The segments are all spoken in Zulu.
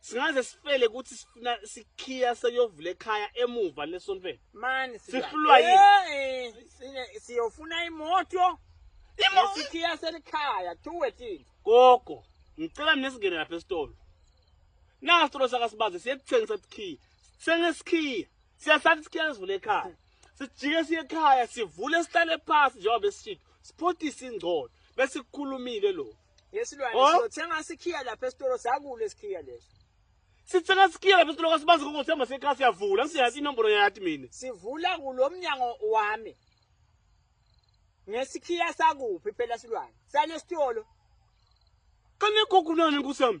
singaze sifele ukuthi sifuna sikhiya sekuyovula ekhaya emuva lesontweni mani sihlulwa yini siyofuna imoto isikhiya selikhaya tuwe thina gogo ngicela mina singene lapha esitolo nasi sitolo sakasibaze siyekuthengisa sikhiya sithenge sikhiya siyasathi sikhiya sivule ekhaya sijike siye ekhaya sivule sihlale phasi njengoba besishito siphotise ingcono bese kukhulumile lokhu Yesilwane oh. siyothenga sikhiya lapha esitolo sakule sikhiya leso. Sithenga sikhiya lapha esitolo kasibazi ngokuthemba sekhaya siyavula ngiyazi inombolo yathi mina. Sivula kulomnyango wami. Ngesikhiya sakuphi phela silwane. Sane sitolo. Kane gogunani nkusami.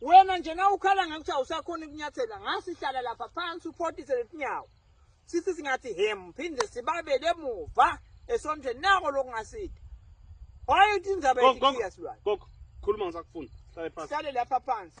wena nje na ukhala ngakuthi awusakhona ukunyathela ngasihlala lapha phansi uphotise letinyawo sithi singathi hem phinde sibabele emuva esontweni nako lokungasidi wayethi indzaba yethiya silwane khuluma ngisakufuna hlale phansi hlale lapha phansi